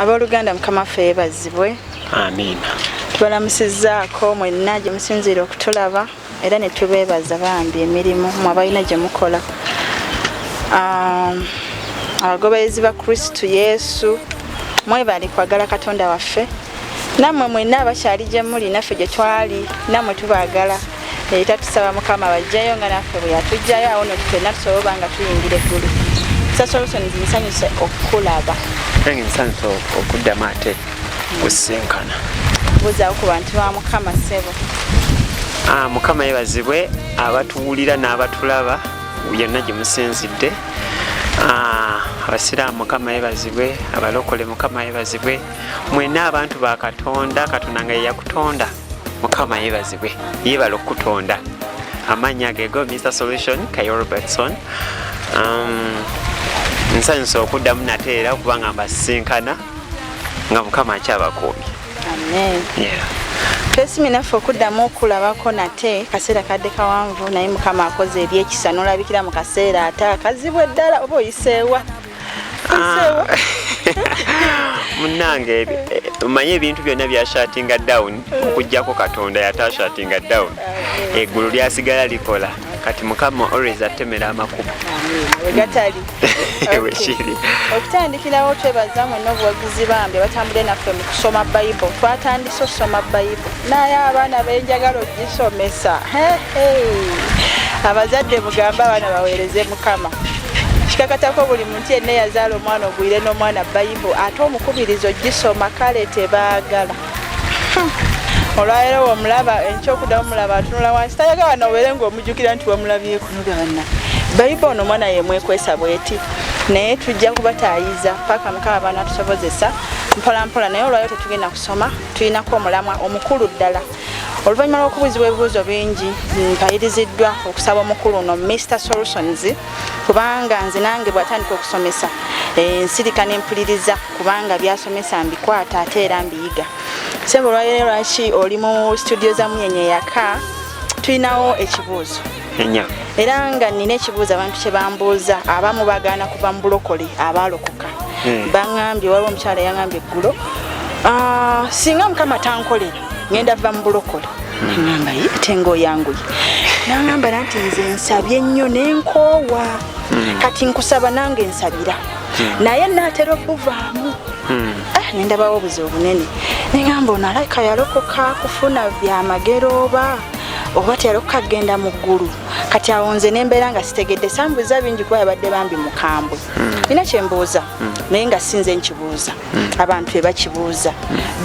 abooluganda mukama waffe yebazibwe amiina tubalamusizaako mwenna gye musinziira okutulaba era ne tubeebaza bambi emirimu mwe abalina gye mukola abagoberezi ba kristu yesu mwebali kwagala katonda waffe nammwe mwenna abakyali gye muli naffe gye twali nammwe tubagala era tusaba mukama bajjayo nga naffe bwe yatujjayo awo no tufenna tusobola oba nga tuyingira eggulu sasolutions nsanyuse okukulaba nange nsanyuse okuddamu ate kusinkana buzawo ku bantu ba mukama ssebo ah, mukama yebazibwe abatuwulira n'abatulaba yonna gye musinzidde ah, abasiraamu mukama yebazibwe abalokole mukama yebazibwe mwena abantu ba katonda katonda nga yeyakutonda mukama yebazibwe yebala okutonda amaanyi agego mr solution kayo robertson um, nsanyusa okuddamu nate era okuba nga mbasisinkana nga mukama akyabakuumi twesimi naffe okuddamu okulabako nate kaseera kadde kawanvu naye mukama akoze ebyekisa nolabikira mu kaseera ate akazibu eddala oba oyiseewa ah. munange manye ebintu byonna byashatinga down okujjako katonda yatashatinga down eggulu lyasigala likola kati mukama always atemera amakubo wegatali wekiri okutandikirawo twebaza mwena obuwagizi bambi batambule naffe mu kusoma bayibo twatandise okusoma bayibo naye abaana benjagala ogisomesa abazadde mugambe abaana baweereze mukama kikakatako buli muntu yenna eyazaala omwana ogwire n'omwana bayibu ate omukubiriza ogisoma kale tebaagala olwaleero womulaba enkyokudamu mulaba atunula wansi tayagala nobeere ngaomujukira nti wamulabyeko nogabana bayibu ono omwana yemwekwesa bweti naye tujja kubatayiza paka mukaba bana tusobozesa mpolampola naye olwaleo tetugenda kusoma tulinako omulamwa omukulu ddala oluvannyuma lw'okubuuzibwa ebibuuzo bingi mpayiriziddwa okusaba omukulu ono mr solutions kubanga nze nange bwatandika okusomesa eh, nsirika nempuliriza kubanga byasomesa mbikwata ate era mbiyiga sebo olwalero lwaki oli mu studio za munyenye yaka tulinawo ekibuuzo enya era nga nina ekibuuzo abantu kyebambuuza abamu bagaana kuva mu bulokole abaalokoka hmm. baŋambye waliwo omukyala yaŋambye eggulo ah, singa mukama tankolera ŋenda va mu bulokole ŋamba ye ate ngaoyanguye naŋamba na nti nze nsabye nnyo nenkoowa hmm. kati nkusaba nange nsabira hmm. naye naatera obuvaamu ah, nendabawo obuzi obunene neŋamba ono alaika yalokoka kufuna byamagero oba oba teyali okukagenda mu ggulu kati awo nze nembeera nga sitegedde sambuuza bingi kuba yabadde bambi mukambwe nina hmm. kyembuuza hmm. naye nga sinze nkibuuza hmm. abantu bebakibuuza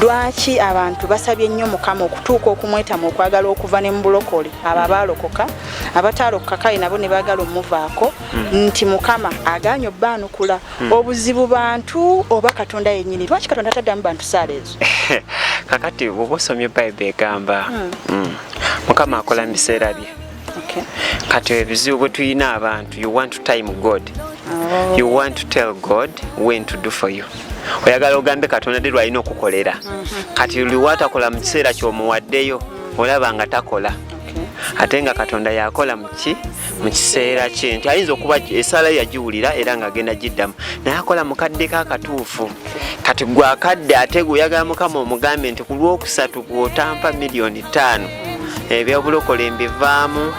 lwaki abantu basabye nnyo mukama okutuuka okumwetamu okwagala okuva ne mubulokole abo abaalokoka abatalokoka kale nabo ne baagala omuvaako nti mukama aganye obbaanukula obuzibu bantu oba katonda yennyini lwaki katonda ataddamu bantu saala ezo kakati bwoba osomye bayibuli egamba hmm. hmm, mukama akola mu biseera bye kati ebizibu bwe tulina abantu you want to time god oh. you want to tell god when to do for you oyagala ogambe katonda de lwalina okukolera mhm. kati liwatakola mu kiseera kyomuwaddeyo olaba nga takola ate nga katonda yakola muki mu kiseera kye nti ayinza okuba esaala yagiwulira era nga agenda giddamu naye akola mukadde ka katuufu kati gwe akadde ate gwe oyagala mukama omugambe nti ku lwokusatu gweotampa miliyoni ttaano ebyobulokola embivaamu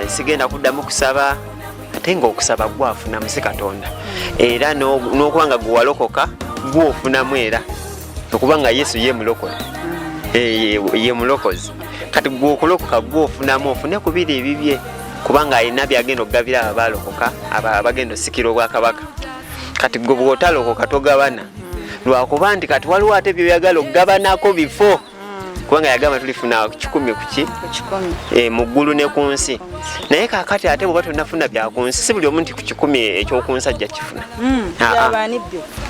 sigenda kuddamu kusaba ate nga okusaba gwafunamu si katonda era n'okuba nga gwewalokoka gwofunamu era okuba nga yesu ye mulokole eh, ye mulokozi kati gwe okulokoka gwe ofunamu ofune ku biri ebibye kubanga alina byagenda okugabira abo balokoka abagenda osikira obwakabaka kati gwe bwotalokoka togabana lwakuba nti kati waliwo ate byoyagala okugabanako bifo kubanga yagamba tulifuna kikumi kuki eh, mu ggulu ne ku nsi naye kakati ate bweba tunafuna bya ku nsi si buli omu nti ku kikumi ekyokunsi ajja kifuna hmm, ah, ah.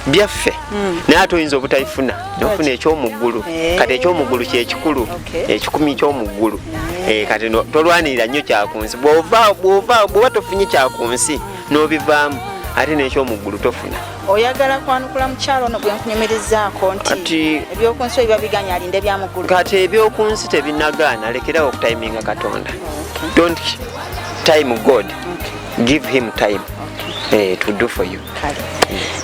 byaffe hmm. naye ate oyinza obutabifuna nofuna ekyomuggulu eh. kati ekyomuggulu kyekikulu ekikumi kyomuggulu eh. Eh, kati tolwanirira nnyo kyakunsi bwoba tofunye kyakunsi nobivaamu ate nekyomuggulu tofuna oyagala kwanukula mukyalo ono gwenkunyumirizaako nti ebyokunsi oyo babiganya alinde byamuggulu kati ebyokunsi tebinagaana lekerawo okutiminga katonda don't time god give him time eh, to do for you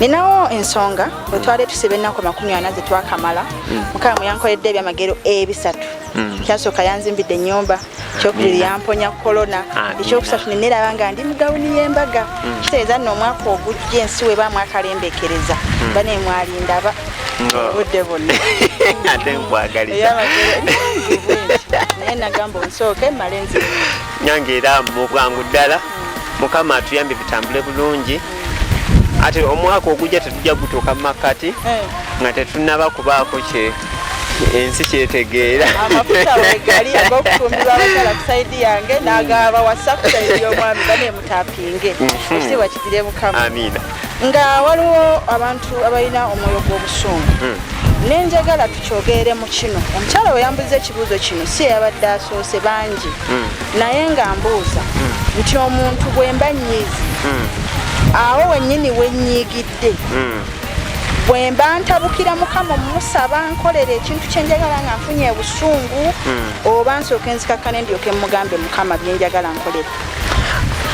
ninawo ensonga bwetwali tusiba ennaku makumi ana zetwakamala mm. mukama muyankoledde ebyamagero ebisatu mm. kyasooka yanzimbidde enyumba ekyokubiri yamponya kolona ekyokusatu neneraba nga ndi mugawuni yembaga mm. kitegeeza nno omwaka ogujja ensi weba mwakalembekereza mm. bane mwalindaba obudde bonna ate nkwagaliza naye nagamba onsooke male nzi nyange era mu bwangu ddala mm. mukama atuyambe bitambule bulungi ate omwaka ogujja tetujja gutuuka mu makkati eh. nga tetunaba kubaako kye ensi kyetegeera amafuta wegali ag'okufumbirwa abakyala ku saidi yange n'agaba wasa ku saidi y'omwami bane emutapinge mhm. ekitiibwa kigire mukama amiina nga waliwo abantu abalina omwoyo gw'obusungu hmm. nenjagala tukyogeere mu kino omukyala we yambuza ekibuuzo kino si yabadde asoose bangi hmm. naye nga mbuuza hmm. nti omuntu bwemba nyiizi awo wenyini wenyiigidde nsobedde hmm. bwe mba ntabukira mukama omusaba nkolera ekintu kyenjagala nga nfunye obusungu hmm. oba nsooka enzikakkane ndyoke mugambe mukama byenjagala nkolera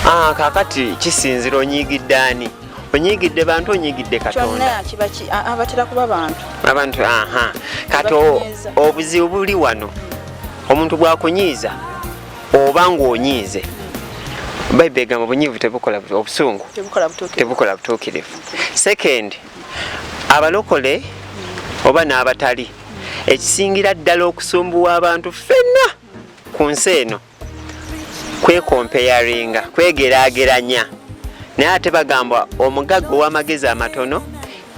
ah, kakati kisinzira onyiigidde ani onyigidde bantu onyigidde katonda abatera kuba bantu abantu aha kati obuzibu buli wano omuntu bwakunyiiza oba ng'onyiize bayibuli egamba obunyiivu tebukola obusungu tebukola butuukirivu second abalokole oba n'abatali ekisingira ddala okusumbuwa abantu ffenna ku nsi eno kwekompeyaringa kwegeraageranya naye ate bagamba omugagga ow'amagezi amatono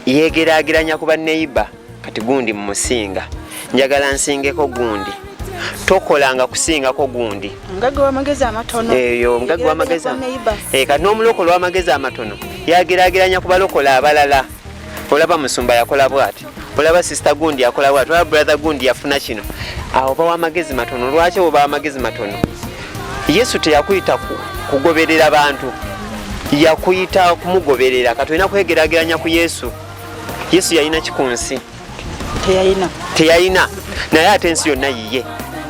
yegeraageranya ku banneyiba kati gundi mumusinga njagala nsingeko gundi tokolanga kusingako gundi mugagga wamagezi amatono eyo mugagga wamagezi eh, kati n'omulokola wamagezi amatono yagerageranya ku balokola abalala olaba musumba yakola bwati olaba sister gundi yakola bwati olaba brother gundi yafuna kino awo bawa amagezi matono lwaki obawa amagezi matono yesu teyakuyita kugoberera bantu yakuyita kumugoberera katulina kwegerageranya ku yesu yesu yalina ki ku nsi teyalina teyalina naye ate ensi yonna yiye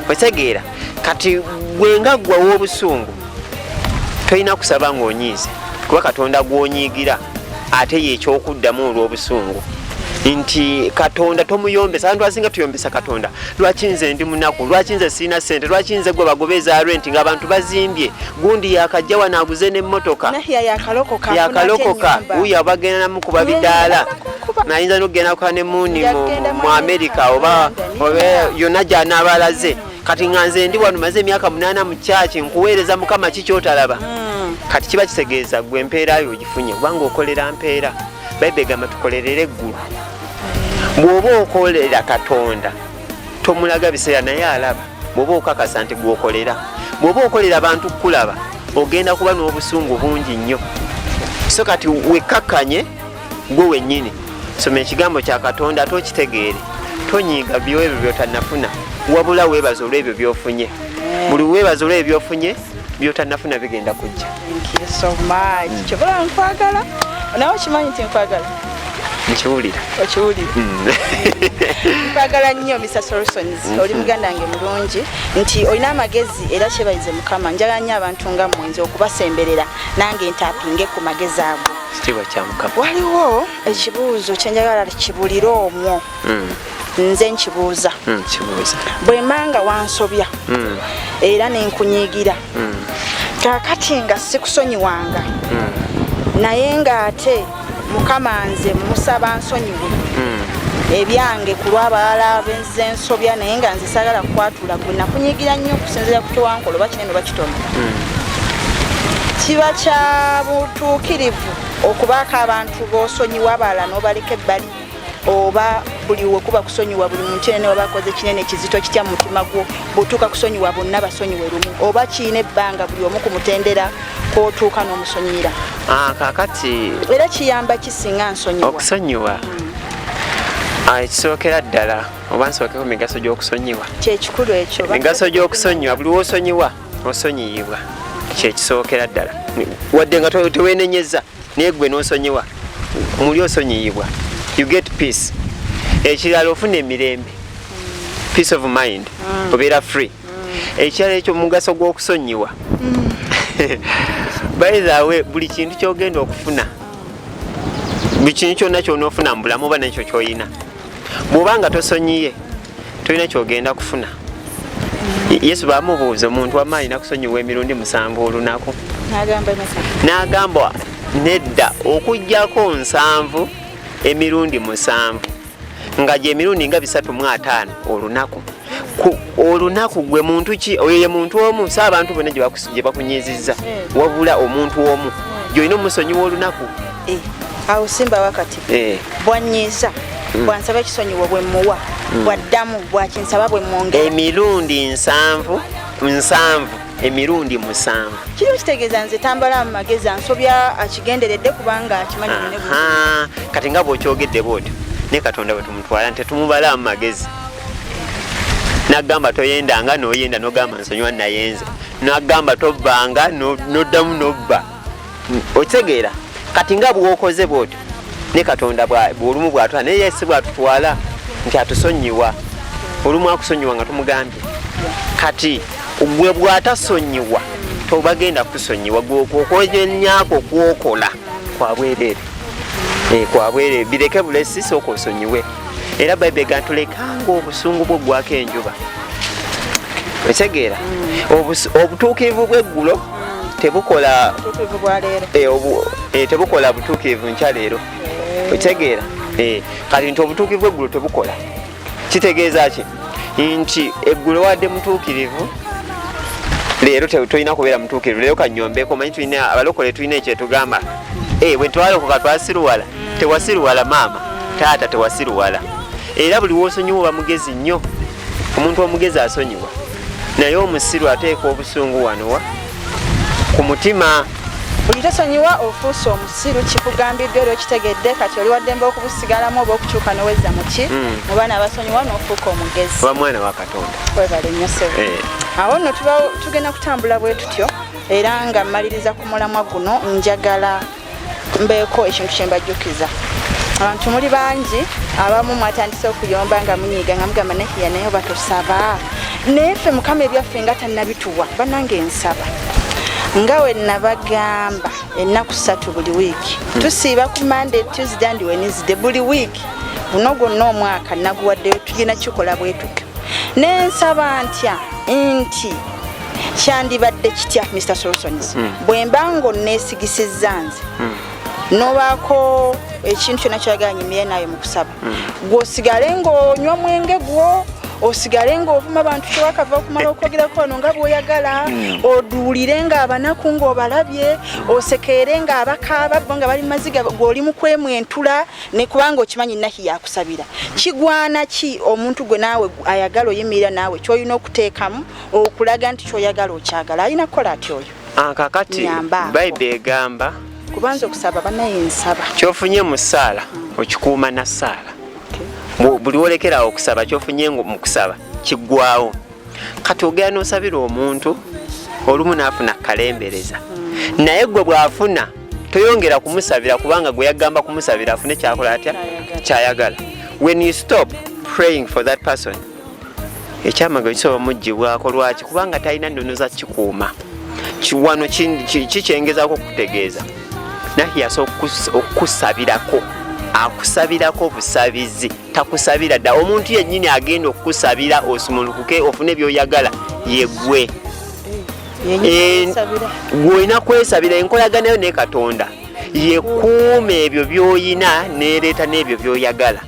otegeera kati gwe nga ggwa w'obusungu tolina kusaba ng'onyiize kuba katonda gw'onyiigira ate yeekyokuddamu olw'obusungu nti katonda tomuyombesa abantu asinga tuyombesa katonda lwaki nze ndi munaku lwaki nze sirina sente lwaki nze gwe bagoba eza rent nga abantu bazimbye gundi yakajja wano aguze n'emmotoka yakalokoka wuyo abagenda namukuba bidaala nayinza nokugenda kuka ne muuni mu amerika oba yonna gyanaaba alaze kati nga nze ndi wano maze emyaka munaana mu kyaki nkuweereza mukama ki kyotalaba hmm. kati kiba kitegeeza gwe empeera yo ogifunye kubanga okolera mpeera bayibuli egamba tukolerere eggulu bw'oba okolera katonda tomulaga biseera naye alaba bw'oba okakasa nti gwokolera bw'oba okolera abantu kukulaba ogenda kuba n'obusungu bungi nnyo so kati wekkakkanye gwe wennyini soma ekigambo kya katonda ate okitegeere tonyiiga byoebyo byotanafuna wabula weebaza olw'ebyo byofunye buli weebaza olw'ebyo byofunye byotanafuna bigenda kujja kyobola nkwagala nawe okimanyi nti nkwagala nkiwulira okiwulira mm. nkwagala nnyo mr solsons mm-hmm. oli muganda nge mulungi nti olina amagezi era kyebayize mukama njagala nnyo abantu nga mwenzi okubasemberera nange ntapinge ku magezi ago waliwo ekibuuzo kyenjagala kibulire omwo hmm. nze nkibuuza hmm, bwemanga wansobya hmm. era nenkunyigira kakati nga sikusonyiwanga naye nga ate mukama nze musaba nsonyiwe ebyange ku lwabalala benze nsobya naye nga nze sagala kukwatula gwe nakunyigira nnyo okusinzira ku kyewankola oba kinene bakitono kiba kya butuukirivu okubaako abantu bosonyiwa abalala nobaleka ebbali oba buli wekuba kusonyiwa buli muntu yena newaba akoze kinene kizito kitya mu mutima gwo bwotuuka kusonyiwa bonna basonyiwe lumu oba kiina ebbanga buli omu ku mutendera kwotuuka n'omusonyira ah, kakati era kiyamba kisinga nsonyiwa okusonyiwa hmm. ah, ekisookera ddala oba nsookeko migaso gy'okusonyiwa kyekikulu ekyo migaso gy'okusonyiwa buli wosonyiwa osonyiyibwa kyekisookera ddala wadde nga tewenenyeza naye gwe nosonyiwa muli osonyiyibwa you get peace ekirala ofuna emirembe peace of mind mm. obeera free mm. ekirala ekyo mugaso gw'okusonyiwa mm. by the way buli kintu kyogenda okufuna buli kintu kyonna kyona ofuna mu bulamu oba nekyo kyoyina bw'oba nga tosonyiye tolina kyogenda kufuna yesu bamubuuza omuntu wama alina kusonyiwa emirundi musanvu olunaku n'agamba nedda okugyako nsanvu emirundi musanvu nga gyemirundi nga bisatu mu ataano olunaku olunaku gwe muntu ki oyo ye muntu omu sa abantu bonna gye bakunyiizizza eh. wabula omuntu omu eh. gyolina omusonyiwa olunaku Eh, awo simba wakati eh. bwanyiiza mm. bwansaba ekisonyiwo bwe muwa mm. bwaddamu bwakinsaba bwe mwongera emirundi nsanvu nsanvu emirundi musanvu kino kitegeeza nze tambala mu magezi ansobya akigenderedde kubanga akimanyi kati nga bwokyogedde bwotyo ne katonda bwe tumutwala nti tumubala mu magezi nagamba toyendanga noyenda nogamba nsonyiwa nayenze nagamba tobbanga noddamu nobba no okitegeera kati nga bwokoze bwotyo ne katonda bwolumu bwatwala naye yesi bwatutwala nti atusonyiwa olumu akusonyiwa nga tumugambye kati gwe bwatasonyiwa tobagenda kusonyiwa gweokwojenyako kwokola kwabwerere eh, kwabwerere bireke bulesi sooka osonyiwe era bayibuli gantulekanga obusungu bwo gwako enjuba ekitegeera mm. obutuukirivu bweggulo tebukola eh, eh, tebukola butuukirivu nkya leero eh. okitegeera kati nti obutuukirivu eggulo tebukola kitegeeza ki nti eggulo wadde mutuukirivu leero tolina kubeera mutuukirivu leero kanyombeeko manyi tulina abalokole tulina ekyetugamba bwe twalokoka twasiruwala tewasiruwala maama taata tewasiruwala era buli wosonyiwa oba mugezi nnyo omuntu omugezi asonyiwa naye omusiru ateeka obusungu wanowa ku mutima buli tosonyiwa ofuuse omusiru kikugambiddwa era okitegedde kati oli waddembe okubusigalamu oba okukyuka noweza muki hmm. mu baana abasonyiwa nofuuka omugezi oba mwana wa katonda webale nnyo sebo eh. awo nno tugenda kutambula bwe tutyo era nga mmaliriza ku mulamwa guno njagala mbeeko ekintu kye mbajjukiza abantu muli bangi abamu mwatandise okuyomba nga munyiiga nga mugamba nahiya naye oba tusaba naye ffe mukama ebyaffe nga tannabituwa banange nsaba nga we nabagamba ennaku ssatu buli wiiki hmm. tusiiba ku monday tuesday and wednesday buli wiiki guno gwonna omwaka naguwaddeyo tugenda kikola bwetuka nensaba ntya nti kyandibadde kitya mr solsons hmm. bwemba nga onneesigisizza nze hmm. nobaako ekintu kyonna kyoyagala nyimire naayo mu kusaba hmm. gweosigale ng'onywa omwenge gwo osigale ng'ovuma abantu kyewakava okumala okwogerako ono nga bwoyagala hmm. oduulire ng'abanaku ng'obalabye osekeere ng'abakaaba bo nga bali mumaziga gweoli mu kwemwentula ne kubanga okimanyi nahi yakusabira kigwana ki omuntu gwe naawe ayagala oyimirira naawe kyolina okuteekamu okulaga nti kyoyagala okyagala alina kukola ati oyo akakati ah, bayibuli egamba kubanza okusaba banaye nsaba kyofunye mu ssaala okikuuma na ssaala buli wolekerawo okusaba kyofunye mu kusaba kiggwawo kati ogenda nosabira omuntu olumu naafuna kalembereza mm. naye gwe bwafuna toyongera kumusabira kubanga gwe yagamba kumusabira afune kyakola atya kyayagala when you stop praying for that person ekyamagero kisobola mugibwako lwaki kubanga talina nnono za kikuuma wano kikyengezako okutegeeza naye yasa okukusabirako akusabirako obusabizi takusabira dda omuntu yennyini agenda okukusabira osumulukuke ofune byoyagala yegwe eh, gwolina kwesabira enkolaganayo ne katonda yekuuma ebyo byoyina nereeta n'ebyo byoyagala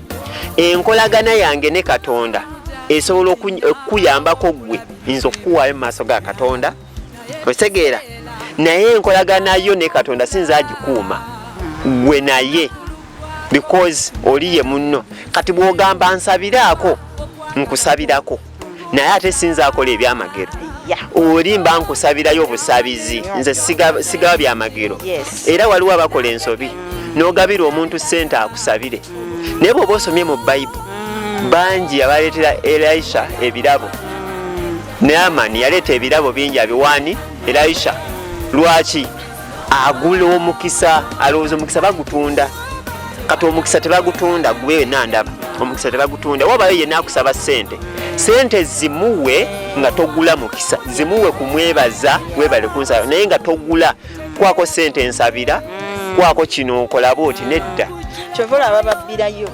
enkolagana yange ne katonda esobola okukuyambako eh, ggwe nza okukuwaayo mu maaso ga katonda otegeera naye enkolagana yo ne katonda sinza agikuuma gwe naye because oli ye munno kati bwogamba nsabiraako nkusabirako naye ate sinza akola ebyamagero oli mba nkusabirayo obusabizi nze sigaba byamagero era waliwo abakola ensobi mm. nogabira omuntu sente akusabire mm. naye bwoba osomye mu bible mm. bangi abaleetera elisha ebirabo naamani yaleeta ebirabo bingi abiwaani elisha lwaki agula omukisa alowooza omukisa bagutunda kati omukisa tebagutunda gwe wena ndaba omukisa tebagutunda wabayo yena akusaba sente sente zimuwe nga togula mukisa zimuwe kumwebaza webale kunsaba naye nga togula kwako sente nsabira mm. kwako kino nkolaba oti nedda kyova olaba babbirayo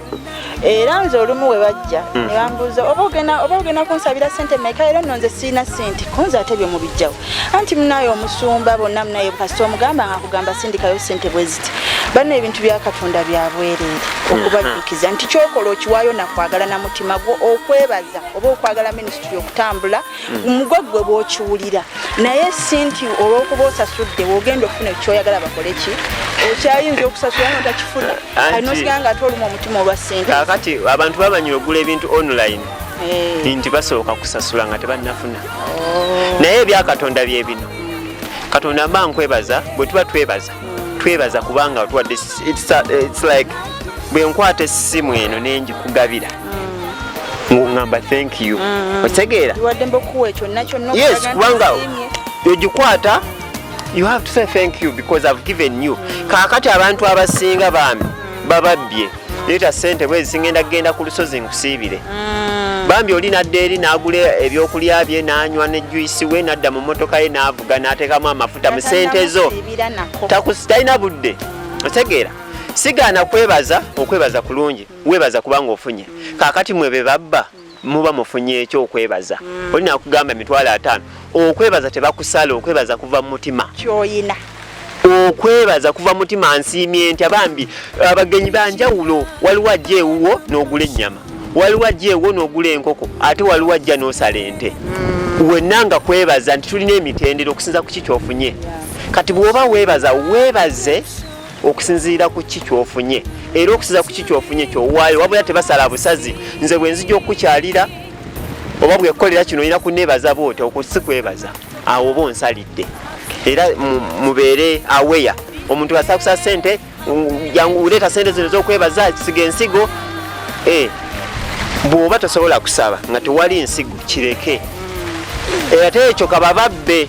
era nze olumu we bajja hmm. ne bambuuza oba ogenda kunsabira sente meka era nno nze sirina sente kunze ate byo mubijjawo anti munaye omusumba bonna munaye kasita omugamba nga kugamba sindikayo sente bwe ziti banno ebintu bya katonda bya bwereere hmm. okubajjukiza nti kyokola okiwaayo nakwagala na mutima gwo okwebaza oba okwagala minisitule okutambula omugwa hmm. gwe bwokiwulira naye si nti olwokuba osasudde wogenda okufuna ekyoyagala bakole ki okyayinza okusasula nga takifuna alinosigala nga ate olumu omutima olwa sente kakati abantu babanyira okugula ebintu online eh. nti basooka kusasula nga tebanafuna oh. naye ebyakatonda byebino katonda mba nkwebaza bwe tuba twebaza twebaza kubanga otuwadde it's, a, it's like bwe nkwata essimu eno nenjikugabira mm. ngamba thank you mm. otegeera yes kubanga ogikwata you have to say thank you because i've given you mm. kakati abantu abasinga bambi bababbye leeta sente bwezi singenda kugenda ku lusozi nkusiibire mm. bambi oli nadda eri n'agula ebyokulya bye n'anywa ne juyisi we n'adda mu mmotoka ye n'avuga n'ateekamu amafuta mu sente zo talina budde mm. otegeera sigaana kwebaza okwebaza kulungi webaza kubanga ofunye kakati mwe be babba muba mufunye ekyo okwebaza mm. olina kugamba emitwalo ataano okwebaza tebakusala okwebaza kuva mumutima kyoyina okwebaza kuva mutima nsiimye nti abambi abagenyi banjawulo waliwo ajja ewuwo n'ogula ennyama waliwo ajja ewo n'ogula enkoko ate waliwo ajja n'osala ente mm. wenna nga kwebaza nti tulina emitendero okusinza ku ki kyofunye kati bw'oba weebaza weebaze okusinziira ku ki kyofunye era okusiza ku ki kyofunye kyowaayo wabula tebasala busazi nze bwenzija okukukyalira oba bwekolera kino olina kunebaza bwoti okusi kwebaza awo oba onsalidde era mubeere aweya omuntu asakusa sente uleeta sente zino zokwebaza kisiga ensigo eh, bwoba tosobola kusaba nga tewali nsigo kireke era teekyo kabababbe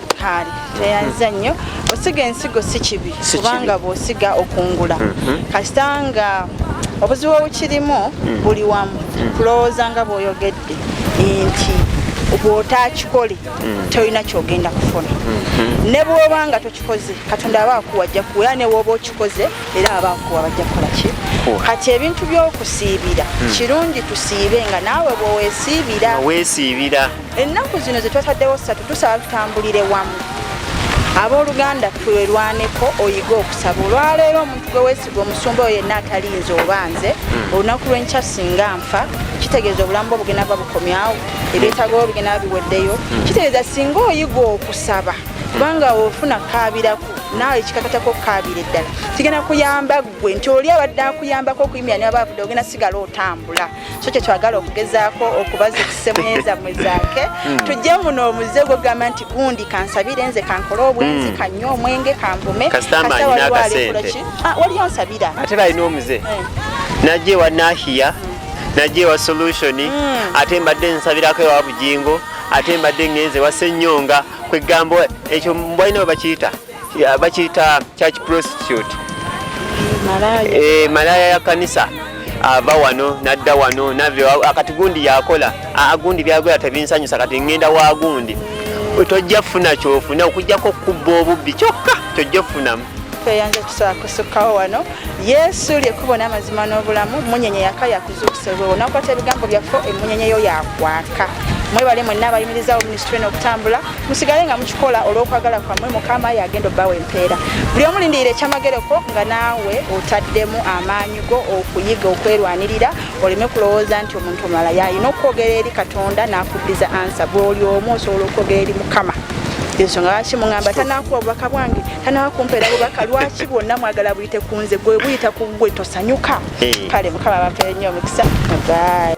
kaali teyanza nnyo osiga ensigo si kibi kubanga bw'osiga okungula mhm. kasita nga obuzibu obukirimu mhm. buli wamu mhm. kulowooza nga bw'oyogedde nti bw'otakikole tolina kyogenda kufuna ne bw'oba nga tokikoze katonda aba akuwa ajja kuwa era ne bw'oba okikoze era aba akuwa bajja kukola ki kati ebintu by'okusiibira kirungi tusiibe nga naawe bw'owesiibira ennaku zino zetwataddewo ssatu tusaba tutambulire wamu abooluganda twelwaneko oyige okusaba olwaleero omuntu gwe wesiga omusumba oyo yenna atalinze oba nze hmm. olunaku lwenkya singa nfa kitegeeza obulamu bwe obugenda ba bukomyawo ebyetaga obugenda ba biweddeyo hmm. kitegeeza singa oyiga okusaba kubanga ofuna kaabiraku naawe ekikakatako okukaabira eddala kigenda kuyamba ggwe nti oli abadde akuyambako okuyimira ne baba avudde ogenda sigala otambula so kyetwagala okugezaako okubaza okusemweza mwezaake hmm. tujje muno omuze gwogamba nti gundi kansabire nze kankole obwenzi hmm. kanywe omwenge kanvume ah, waliyo nsabira ate balina omuze eh. najje wa nahiya hmm. najje wa solutioni ate mbadde nsabirako ewa bujingo ate mbadde ngenze wasenyonga kwegamba ekyo mbalina webakiyita bakiyita church prostitute malaya eh, ya kanisa ava wano nadda wano nave akati gundi yakola agundi byagola tebinsanyusa kati ngenda wa gundi tojja funa kyofuna okujjako okubba obubbi kyokka tojja ofunamu tweyanza tusobola kusukkawo wano yesu lyekubo n'amazima n'obulamu munyenye yaka yakuzuukusa olwewo nakwata ebigambo byaffe emunyenye yo yakwaka mwebale mwenna abayimirizawo minisitule n'okutambula musigale nga mukikola olw'okwagala kwammwe mukama yagenda obbawa empeera buli omu lindirira ekyamagereko nga naawe otaddemu amaanyi go okuyiga okwerwanirira oleme kulowooza nti omuntu omulala yalina okwogera eri katonda n'akuddiza ansa bwoli omu osobola okwogera eri mukama ensonga lwaki muŋamba tanakuwa bubaka bwange tanawakumpeera bubaka lwaki bwonna mwagala buyite ku nze gwe buyita ku gwe tosanyuka kale mukama bampeere nnyo omukisa bye